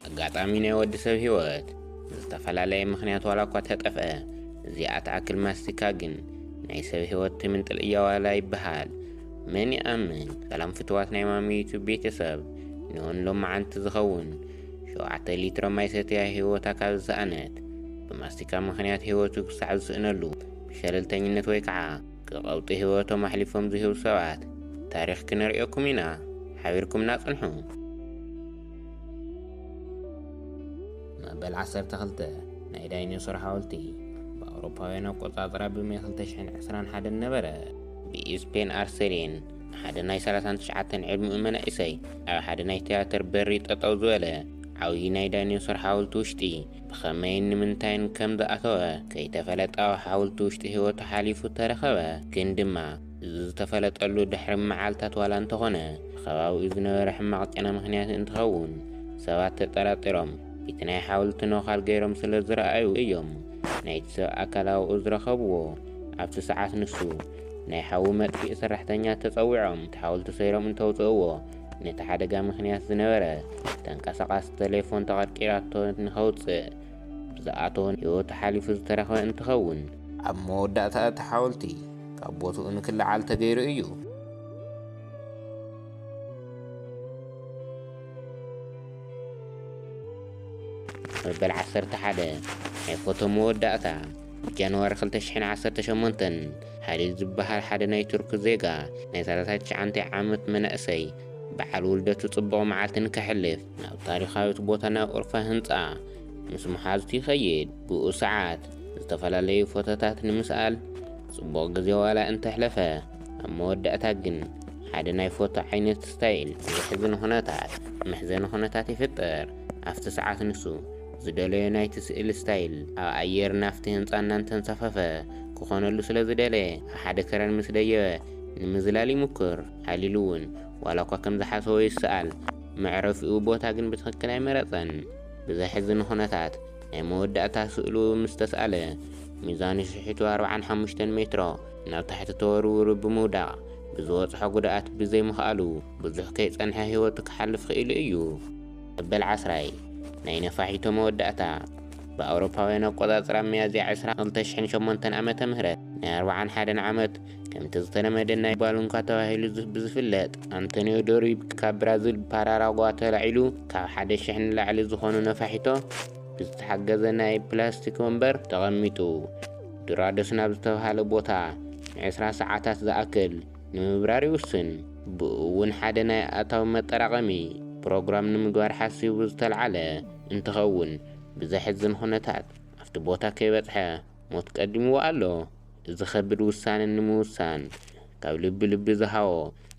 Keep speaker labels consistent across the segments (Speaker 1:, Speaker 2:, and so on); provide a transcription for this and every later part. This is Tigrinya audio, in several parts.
Speaker 1: ኣጋጣሚ ናይ ወዲ ሰብ ህይወት ብዝተፈላለየ ምኽንያት ዋላ እኳ ተጠፍአ፣ እዚኣ ትኣክል ማስቲካ ግን ናይ ሰብ ህይወት ትምንጥል እያ ዋላ ይበሃል መን ይኣምን። ሰላም ፍትዋት ናይ ማሚ ዩቱብ ቤተሰብ፣ ኒዮን ሎማዓንቲ ዝኸውን ሸውዓተ ሊትሮ ማይ ሰትያ ህይወታ ካብ ዝሰኣነት ብማስቲካ ምኽንያት ህይወቱ ክሳዕ ዝስእነሉ ብሸለልተኝነት ወይ ከዓ ክቐውጢ ህይወቶም ኣሕሊፎም ዝህቡ ሰባት ታሪኽ ክነርእየኩም ኢና ሓቢርኩምና ፅንሑ። መበል ዓሰርተ ክልተ ናይ ዳይኖሶር ሓወልቲ ብኣውሮፓውያን ኣቆጻጽራ ብመ 2021 ነበረ። ብኢስፔን ኣርሴሪን ሓደ ናይ 39 ዕድሚኡ መናእሰይ ኣብ ሓደ ናይ ትያትር በሪ ጠጠው ዝበለ ዓብዪ ናይ ዳይኖሶር ሓወልቲ ውሽጢ ብኸመይን ንምንታይን ከም ዝኣተወ ከይተፈለጠ ኣብ ሓወልቲ ውሽጢ ህይወቱ ሓሊፉ ተረኸበ። ግን ድማ እዚ ዝተፈለጠሉ ድሕሪ መዓልታት ዋላ እንተኾነ ብከባቢኡ ዝነበረ ሕማቕ ጨና ምኽንያት እንትኸውን ሰባት ተጠራጢሮም እቲ ናይ ሓውልቲ ነዃል ገይሮም ስለ ዝረኣዩ እዮም ናይቲ ሰብ ኣካላውኡ ዝረኸብዎ። ኣብቲ ሰዓት ንሱ ናይ ሓዊ መጥፊኢ ሰራሕተኛ ተፀዊዖም እቲ ሓውልቲ ሰይሮም እንተውፅእዎ ነቲ ሓደጋ ምኽንያት ዝነበረ ተንቀሳቓሲ ተሌፎን ተቐርቂራቶ ንኸውፅእ ብዝኣተወ ህይወቱ ሓሊፉ ዝተረኽበ እንትኸውን፣ ኣብ መወዳእታ እቲ ሓወልቲ ካብ ቦትኡ ንክለዓል ተገይሩ እዩ። መበል ዓሰርተ ሓደ ናይ ፎቶ መወዳእታ ብጃንዋሪ ክልተ ሽሕን ዓሰርተ ሸሞንተን ሃሊል ዝበሃል ሓደ ናይ ቱርኪ ዜጋ ናይ ሰላሳ ትሽዓንተ ዓመት መናእሰይ በዓል ውልደቱ ጽቡቕ መዓልትን ከሕልፍ ናብ ታሪኻዊት ቦታ ናብ ኡርፋ ህንጻ ምስ መሓዙቱ ይኸይድ። ብኡ ሰዓት ዝተፈላለዩ ፎቶታት ንምስኣል ጽቡቕ ግዜ ዋላ እንተሕለፈ ኣብ መወዳእታ ግን ሓደ ናይ ፎቶ ዓይነት ስታይል ብዘሕዝን ኹነታት መሕዘኒ ኹነታት ይፍጠር። ኣብቲ ሰዓት ንሱ ዝደለዮ ናይቲ ስእሊ ስታይል ኣብ ኣየር ናብቲ ህንጻ እናንተንሳፈፈ ክኾነሉ ስለዝደለየ ኣብ ሓደ ከረን ምስ ደየበ ንምዝላል ይሙክር። ሃሊሉ እውን ዋላ እኳ ከም ዝሓሰቦ ይሰኣል መዕረፊኡ ቦታ ግን ብትኽክል ኣይመረጸን። ብዘሕዝን ኹነታት ናይ መወዳእታ ስእሉ ምስ ተስኣለ ሚዛኑ ሽሒቱ ኣርብዓን ሓሙሽተን ሜትሮ ናብ ታሕቲ ተወርዊሩ ብምውዳቕ ብዝበጽሖ ጉድኣት ብዘይ ምኽኣሉ ብዙሕ ከይጸንሐ ህይወቱ ክሓልፍ ኽኢሉ እዩ። መበል ዓስራይ ናይ ነፋሒቶ መወዳእታ ብኣውሮፓውያን ኣቆጻጽራ ሚያዝያ ዕስራ ክልተ ሽሕን ሸሞንተን ዓመተ ምህረት ናይ ኣርብዓን ሓደን ዓመት ከምቲ ዝተለመደ ናይ ባሉንካ ተባሂሉ ብዝፍለጥ ኣንቶኒዮ ዶሪብ ካብ ብራዚል ፓራራጓ ተላዒሉ ካብ ሓደ ሽሕ ንላዕሊ ዝኾኑ ነፋሒቶ ብዝተሓገዘ ናይ ፕላስቲክ ወንበር ተቐሚጡ ዱራዶስ ናብ ዝተብሃለ ቦታ ንዕስራ ሰዓታት ዝኣክል ንምብራር ይውስን። ብኡ እውን ሓደ ናይ ኣታዊ መጠራቐሚ ፕሮግራም ንምግባር ሓሲቡ ዝተልዓለ እንትኸውን ብዘሕዝን ኩነታት ኣብቲ ቦታ ከይበፅሐ ሞት ቀዲምዎ ኣሎ እዚ ከብድ ውሳነ ንምውሳን ካብ ልቢ ልቢ ዝሃዎ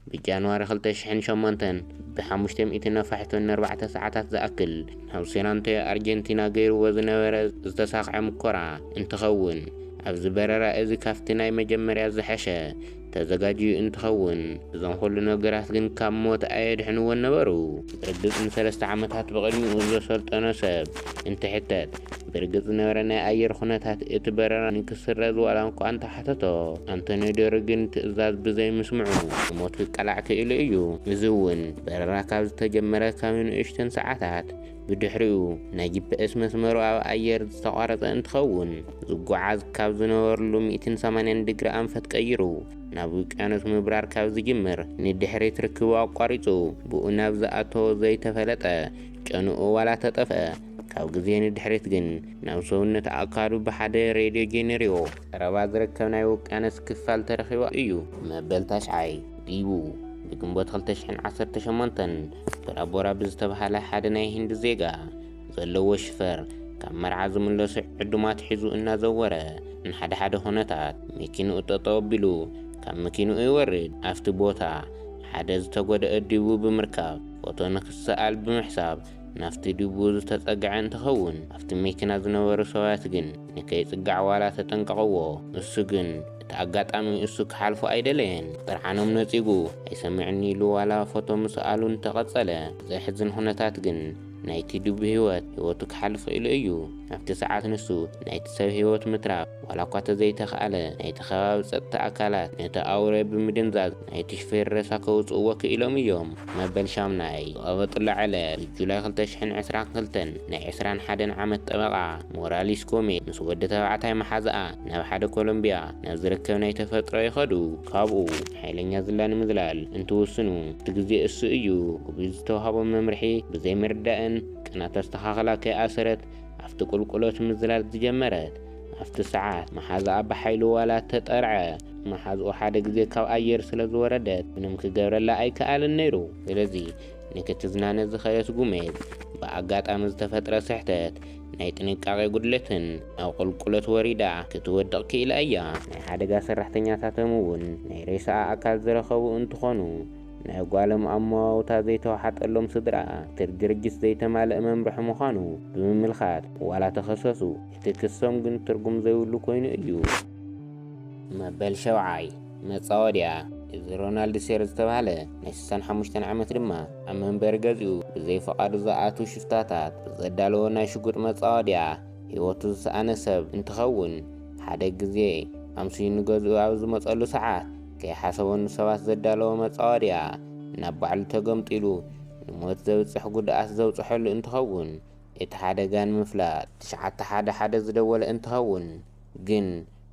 Speaker 1: ብ ጃንዋሪ ክልተ ሽሕን ሸሞንተን ብ ሓሙሽተ ሚእቲ ነፋሒቶ ን ኣርባዕተ ሰዓታት ዝኣክል ናብ ሴን ኣንቶዮ ኣርጀንቲና ገይርዎ ዝነበረ ዝተሳኽዐ ሙኮራ እንትኸውን ኣብዚ በረራ እዚ ካብቲ ናይ መጀመርያ ዝሐሸ ተዘጋጅዩ እንትኸውን፣ እዞም ኹሉ ነገራት ግን ካብ ሞት ኣየድሕንዎን ነበሩ። ብርግጽ ንሰለስተ ዓመታት ብቕድሚኡ ዘሰልጠኖ ሰብ እንትሕተት፣ ብርግጽ ዝነበረ ናይ ኣየር ኹነታት እቲ በረራ ንክስረዝ ዋላ'ኳ እንተሓተቶ፣ ኣንቶንዮ ዶሪ ግን ትእዛዝ ብዘይምስምዑ ንሞት ክቃላዕ ክኢሉ እዩ። እዚ'ውን በረራ ካብ ዝተጀመረ ካብ ንእሽተን ሰዓታት ብድሕሪኡ ናይ ጂፐኤስ መስመሩ ኣብ ኣየር ዝተቋረፀ እንትኸውን ዝጓዓዝ ካብ ዝነበርሉ ሚእትን ሰማንያን ድግሪ ኣንፈት ቀይሩ ናብ ውቅያኖስ ምብራር ካብ ዝጅምር ንድሕሪት ርክቡ ኣቋሪፁ ብኡ ናብ ዝኣተዎ ዘይተፈለጠ ጨንኡ ዋላ ተጠፍኣ ካብ ግዜ ንድሕሪት ግን ናብ ሰውነት ኣእካሉ ብሓደ ሬድዮ ጄኔሪዮ ቀረባ ዝርከብ ናይ ውቅያኖስ ክፋል ተረኺቡ እዩ። መበል ታሽዓይ ዲቡ ብግንቦት ክልተ ሽሕን ዓሰርተ ሸሞንተን ቦራ ቦራ ብዝተብሃለ ሓደ ናይ ሂንዲ ዜጋ ዘለዎ ሽፈር ካብ መርዓ ዝምለሱ ዕዱማት ሒዙ እናዘወረ ንሓደ ሓደ ኩነታት መኪንኡ ጠጠው ኣቢሉ ካብ መኪንኡ ይወርድ። ኣብቲ ቦታ ሓደ ዝተጎደኣ ዲቡ ብምርካብ ፎቶ ንክሰኣል ብምሕሳብ ናብቲ ድቡ ዝተጸግዐ እንትኸውን ኣብቲ መኪና ዝነበሩ ሰብያት ግን ንከይጽጋዕ ዋላ ተጠንቀቕዎ እሱ ግን እቲ ኣጋጣሚ እሱ ክሓልፎ ኣይደለየን ብጥርዓኖም ነጺጉ ኣይሰምዕን ኢሉ ዋላ ፎቶ ምስኣሉ እንተቐጸለ ብዘሕዝን ኹነታት ግን ናይቲ ድቡ ህይወት ህይወቱ ክሓልፍ ኽኢሉ እዩ ኣብቲ ሰዓት ንሱ ናይቲ ሰብ ህይወት ምትራፍ ዋላ እኳ ተዘይተኽኣለ ናይቲ ከባቢ ጸጥታ ኣካላት ነቲ ኣውሬ ብምድንዛዝ ናይቲ ሽፌር ሬሳ ከውጽእዎ ክኢሎም እዮም። መበል ሻምናይ ዝቐበጥሉ ዕለት ጁላይ ክልተ ሽሕን ዕስራን ክልተን ናይ ዕስራን ሓደን ዓመት ጠበቓ ሞራሊስ ኮሜ ምስ ወዲ ተባዕታይ መሓዝኣ ናብ ሓደ ኮሎምቢያ ናብ ዝርከብ ናይ ተፈጥሮ ይኸዱ። ካብኡ ሓይለኛ ዝላ ንምዝላል እንትውስኑ እቲ ግዜ እሱ እዩ ክብሉ ዝተውሃቦም መምርሒ ብዘይምርዳእን ቅናት ኣስተኻኽላ ከይኣሰረት ኣብቲ ቁልቁሎት ምዝላል ዝጀመረት። ኣብቲ ሰዓት መሓዝኣ ብሓይሉ ዋላ እተጠርዐ መሓዝኡ ሓደ ግዜ ካብ ኣየር ስለ ዝወረደ ምንም ክገብረላ ኣይከኣልን ነይሩ። ስለዚ ንክትዝናነ ዝኸደት ጉሜዝ ብኣጋጣሚ ዝተፈጥረ ስሕተት ናይ ጥንቃቄ ጉድለትን ናብ ቁልቁለት ወሪዳ ክትወድቕ ክኢላ እያ። ናይ ሓደጋ ሰራሕተኛታቶም እውን ናይ ሬሳኣ ኣካል ዝረኸቡ እንትኾኑ ናይ ጓሎም ኣመዋውታ ዘይተዋሓጠሎም ስድራኣ እቲ ድርጅት ዘይተማለእ መምርሒ ምዃኑ ብምምልካት ዋላ ተኸሰሱ እቲ ክሶም ግን ትርጉም ዘይብሉ ኮይኑ እዩ። መበል ሸውዓይ መጻወድያ እዚ ሮናልድ ሴር ዝተባህለ ናይ ስሳን ሓሙሽተን ዓመት ድማ ኣብ መንበሪ ገዝኡ ብዘይ ፍቓዱ ዝኣትው ሽፍታታት ብዘዳለዎ ናይ ሽጉጥ መጻወድያ ህይወቱ ዝሰኣነ ሰብ እንትኸውን ሓደ ግዜ ኣምስዩ ንገዝኡ ኣብ ዝመጸሉ ሰዓት ከይሓሰቦ ንሰባት ዘዳለዎ መጻወድያ ናብ ባዕሉ ተገምጢሉ ንሞት ዘብጽሕ ጉድኣት ዘብጽሐሉ እንትኸውን እቲ ሓደጋ ንምፍላጥ ትሽዓተ ሓደ ሓደ ዝደወለ እንትኸውን ግን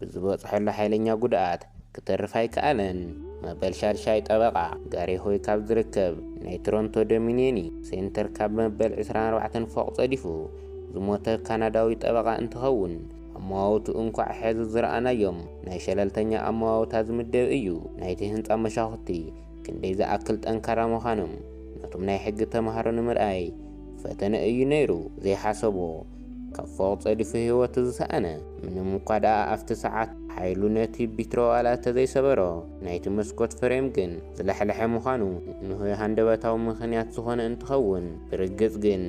Speaker 1: ብዝበፅሐሉ ሓይለኛ ጉድኣት ክትርፍ ኣይከኣለን መበል ሻድሻይ ጠበቓ ጋሪ ሆይ ካብ ዝርከብ ናይ ቶሮንቶ ዶሚንየኒ ሴንተር ካብ መበል ዕስራን ኣርባዕተን ፎቕ ፀዲፉ ዝሞተ ካናዳዊ ጠበቓ እንትኸውን ኣመዋውትኡ እንኳዕ ሕዚ ዝረኣናዮም ናይ ሸለልተኛ ኣመዋውታ ዝምደብ እዩ። ናይቲ ህንፃ መሻኹቲ ክንደይ ዝኣክል ጠንካራ ምዃኖም ነቶም ናይ ሕጊ ተምሃሮ ንምርኣይ ፈተነ እዩ ነይሩ ዘይሓሰቦ ካብ ፎቕ ጸዲፉ ህይወቱ ዝሰኣነ ምንም እኳ ደኣ ኣብቲ ሰዓት ሓይሉ ነቲ ቢትሮ ዋላ ተዘይሰበሮ ናይቲ መስኮት ፍሬም ግን ዝለሕለሐ ምዃኑ ንሆይ ሃንደበታዊ ምኽንያት ዝኾነ እንትኸውን ብርግጽ ግን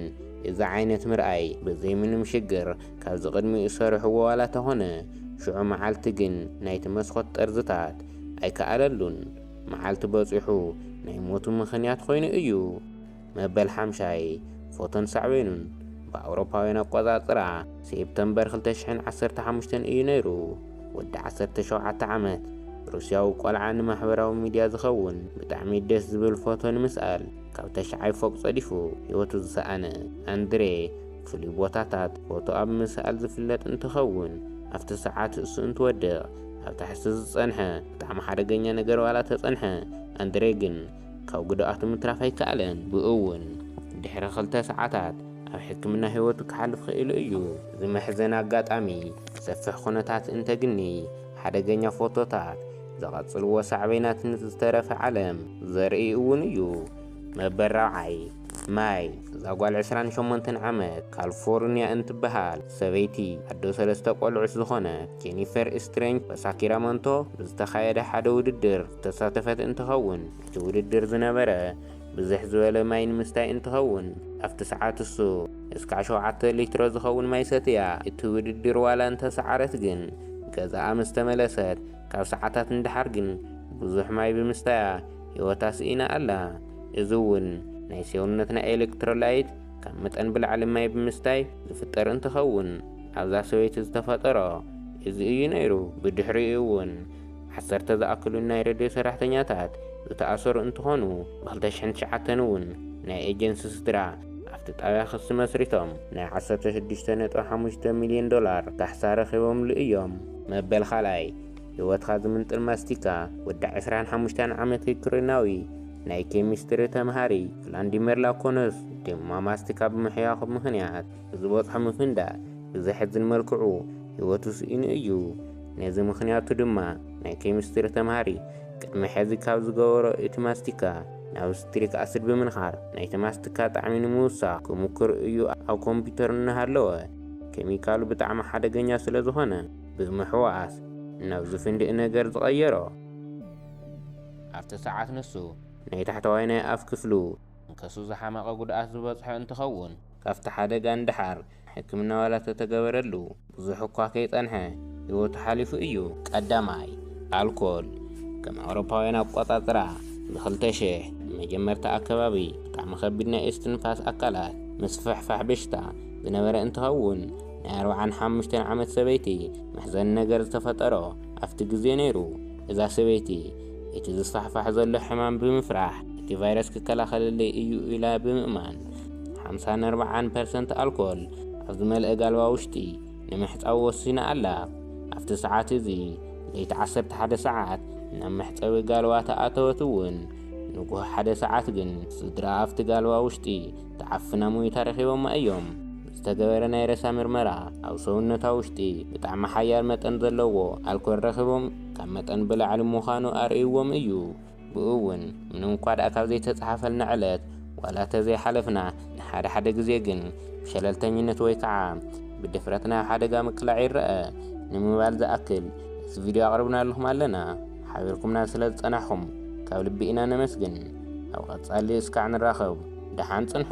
Speaker 1: እዚ ዓይነት ምርኣይ ብዘይ ምንም ሽግር ካብዚ ቅድሚኡ ሰሪሑዎ ዋላ ተኾነ ሽዑ መዓልቲ ግን ናይቲ መስኮት ጠርዝታት ኣይከኣለሉን መዓልቲ በጺሑ ናይ ሞቱ ምኽንያት ኮይኑ እዩ መበል ሓምሻይ ፎቶን ሳዕቤኑን ብኣውሮፓውያን ኣቆጻጽራ ሴፕተምበር ክልተ ሽሕን ዓሰርተ ሓሙሽተን እዩ ነይሩ። ወዲ ዓሰርተ ሸውዓተ ዓመት ሩስያዊ ቆልዓ ንማሕበራዊ ሚድያ ዝኸውን ብጣዕሚ ደስ ዝብል ፎቶ ንምስኣል ካብ ታሽዓይ ፎቕ ጸዲፉ ህይወቱ ዝሰኣነ ኣንድሬ ፍሉይ ቦታታት ፎቶ ኣብ ምስኣል ዝፍለጥ እንትኸውን ኣብቲ ሰዓት እሱ እንትወድቕ ኣብ ታሕሱ ዝጸንሐ ብጣዕሚ ሓደገኛ ነገር ዋላ ተጸንሐ ኣንድሬ ግን ካብ ጉድኣቱ ምትራፍ ኣይከኣለን። ብእኡውን ድሕሪ ክልተ ሰዓታት ኣብ ሕክምና ህይወቱ ክሓልፍ ኽኢሉ እዩ። እዚ መሕዘኒ ኣጋጣሚ ሰፊሕ ኩነታት እንተግኒ ሓደገኛ ፎቶታት ዝቐጽልዎ ሳዕቤናት ንዝተረፈ ዓለም ዘርኢ እውን እዩ። መበል ራብዓይ፣ ማይ፣ እዛ ጓል ዕስራን ሸሞንተን ዓመት ካልፎርንያ እንትበሃል ሰበይቲ ኣዶ ሰለስተ ቆልዑት ዝኾነት ጄኒፈር ስትሬንጅ በሳኪራመንቶ ብዝተኻየደ ሓደ ውድድር ዝተሳተፈት እንትኸውን እቲ ውድድር ዝነበረ ብዝሕ ዝበለ ማይ ንምስታይ እንትኸውን ኣብቲ ሰዓት እሱ እስካዕ ሸውዓተ ሊትሮ ዝኸውን ማይ ሰትያ እቲ ውድድር ዋላ እንተሰዓረት ግን ገዛኣ ምስ ተመለሰት ካብ ሰዓታት ንደሓር ግን ብዙሕ ማይ ብምስታያ ህይወታ ስኢና ኣላ እዚ እውን ናይ ሴውነትና ኤሌክትሮላይት ካብ መጠን ብላዕሊ ማይ ብምስታይ ዝፍጠር እንትኸውን ኣብዛ ሰበይቲ ዝተፈጠሮ እዚ እዩ ነይሩ ብድሕሪኡ እውን ዓሰርተ ዝኣክሉ ናይ ሬድዮ ሰራሕተኛታት ዝተኣሰሩ እንትኾኑ፣ ብ ክልተ ሽሕን ትሽዓተን እውን ናይ ኤጀንሲ ስድራ ኣብቲ ጣብያ ክሲ መስሪቶም ናይ ዓሰርተ ሽዱሽተ ነጥቢ ሓሙሽተ ሚሊየን ዶላር ካሕሳ ረኺቦምሉ እዮም። መበል ካልኣይ ህይወትካ ዝምንጥል ማስቲካ ወዲ ዕስራን ሓሙሽተን ዓመት ዩክሬናዊ ናይ ኬሚስትሪ ተምሃሪ ቭላንዲሚር ላኮኖስ ድማ ማስቲካ ብምሕያኹ ምኽንያት ዝበጽሖ ምፍንዳእ ብዘሕዝን መልክዑ ህይወቱ ስኢኑ እዩ። ነዚ ምኽንያቱ ድማ ናይ ኬሚስትሪ ተምሃሪ ቅድሚ ሕዚ ካብ ዝገበሮ እቲ ማስቲካ ናብ ስትሪክ ኣሲድ ብምንኻር ናይቲ ማስቲካ ጣዕሚ ንምውሳኽ ክሙክር እዩ ኣብ ኮምፒተር እናሃለወ ኬሚካሉ ብጣዕሚ ሓደገኛ ስለዝኾነ ብምሕዋስ ናብ ዝፍንድእ ነገር ዝቐየሮ። ኣብቲ ሰዓት ንሱ ናይ ታሕተዋይ ናይ ኣፍ ክፍሉ መንከሱ ዝሓመቐ ጉድኣት ዝበጽሖ እንትኸውን፣ ካብቲ ሓደጋ ንደሓር ሕክምና ዋላ ተተገበረሉ ብዙሕ እኳ ከይጸንሐ ህይወቱ ሓሊፉ እዩ። ቀዳማይ፣ ኣልኮል ከም ኣውሮፓውያን ኣቆጻጽራ ብ ክልተ ሽሕ መጀመርታ ኣከባቢ ብጣዕሚ ከቢድ ናይ እስትንፋስ ኣካላት ምስፍሕፋሕ በሽታ ዝነበረ እንትኸውን ናይ ኣርብዓን ሓሙሽተን ዓመት ሰበይቲ መሕዘኒ ነገር ዝተፈጠሮ ኣብቲ ግዜ ነይሩ። እዛ ሰበይቲ እቲ ዝስፋሕፋሕ ዘሎ ሕማም ብምፍራሕ እቲ ቫይረስ ክከላኸለለይ እዩ ኢላ ብምእማን ሓምሳን ኣርብዓን ፐርሰንት ኣልኮል ኣብ ዝመልአ ጋልባ ውሽጢ ንምሕጻው ወሲና ኣላ። ኣብቲ ሰዓት እዚ ለይቲ ዓሰርተ ሓደ ሰዓት ናብ መሕጸቢ ጋልባ ተኣተወት እውን። ንጉህ ሓደ ሰዓት ግን ስድራ ኣብቲ ጋልባ ውሽጢ ተዓፍና ሞይታ ረኺቦማ እዮም። ብዝተገበረ ናይ ሬሳ ምርመራ ኣብ ሰውነታ ውሽጢ ብጣዕሚ ሓያል መጠን ዘለዎ ኣልኮል ረኺቦም ካብ መጠን ብላዕሊ ምዃኑ ኣርእይዎም እዩ። ብኡ እውን ምንምኳ ድኣ ካብ ዘይተጽሓፈልና ዕለት ዋላ ተዘይሓለፍና፣ ንሓደ ሓደ ግዜ ግን ብሸለልተኝነት ወይ ከዓ ብድፍረት ናብ ሓደጋ ምቅላዕ ይረኣ። ንምባል ዝኣክል እዚ ቪድዮ ኣቕርብናልኹም ኣለና። ሓቢርኩምና ስለ ዝጸናሕኹም ካብ ልቢ ኢና ነመስግን። ኣብ ቐጻሊ እስካዕ ንራኸብ ድሓን ጽንሑ።